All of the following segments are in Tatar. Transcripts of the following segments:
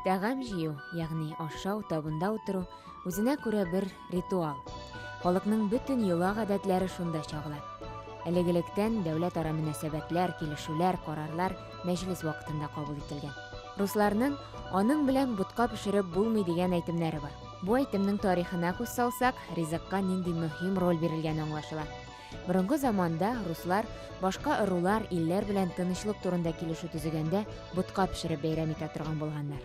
Тәгам җыю, ягъни ашау табында утыру, үзенә күрә бер ритуал. Халыкның бөтен йола гадәтләре шунда чагыла. Әлегелектән дәүләтара мөнәсәбәтләр, килешүләр, карарлар мәҗлес вакытында кабул ителгән. Русларның аның белән бутка пешереп булмый дигән әйтемнәре бар. Бу әйтемнең тарихына күз салсак, ризыкка нинди мөһим роль бирелгәне аңлашыла. Борынгы заманда руслар башка ырулар, илләр белән тынычлык турында килешү төзегәндә ботка пешереп бәйрәм итә торган булганнар.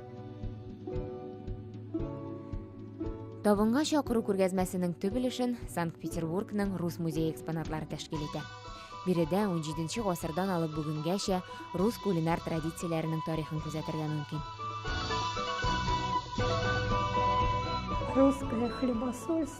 Табынга чакыру күргәзмәсенең төп өлешен Санкт-Петербургның Рус музее экспонатлары тәшкил итә. Биредә 17 гасырдан алып бүгенгәчә рус кулинар традицияләренең тарихын күзәтергә мөмкин. Русская хлебосольство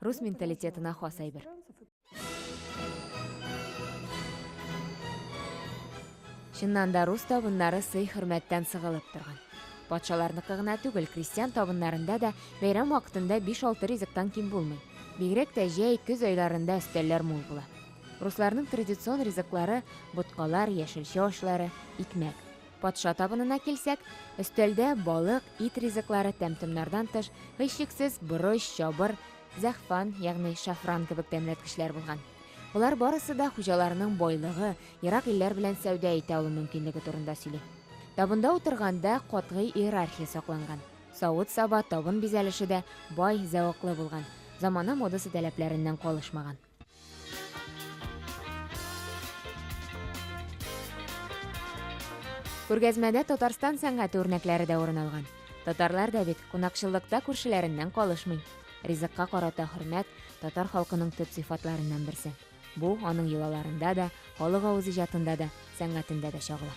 Рус менталитетына хас әйбер. Чыннан да рус табыннары сый хөрмәттән сыгылып торган. Патшаларныкы гына түгел, крестьян табыннарында да бәйрәм вакытында 5-6 ризыктан ким булмый. Бигрәк тә җәй, көз айларында өстәлләр мул була. Русларның традицион ризыклары боткалар, яшелчә ашлары, икмәк. Патша табынына килсәк, өстәлдә балык, ит ризыклары тәм-томнардан тыш, һичшиксез, борыч, чабыр, зәгъфан, ягъни шафран кебек тәмләткечләр булган. Болар барысы да хуҗаларның байлыгы, ерак илләр белән сәүдә итә алу мөмкинлеге турында сөйли. Табында утырганда катгый иерархия сакланган. Савыт-саба, табын бизәлеше дә бай, зәвыклы булган, замана модасы таләпләреннән калышмаган. Күргәзмәдә Татарстан сәнгате үрнәкләре дә урын алган. Татарлар да бит кунакчыллыкта күршеләреннән калышмый. Ризыкка карата хөрмәт татар халкының төп сыйфатларыннан берсе. Бу аның йолаларында да, халык авыз иҗатында да, сәнгатендә дә чагыла.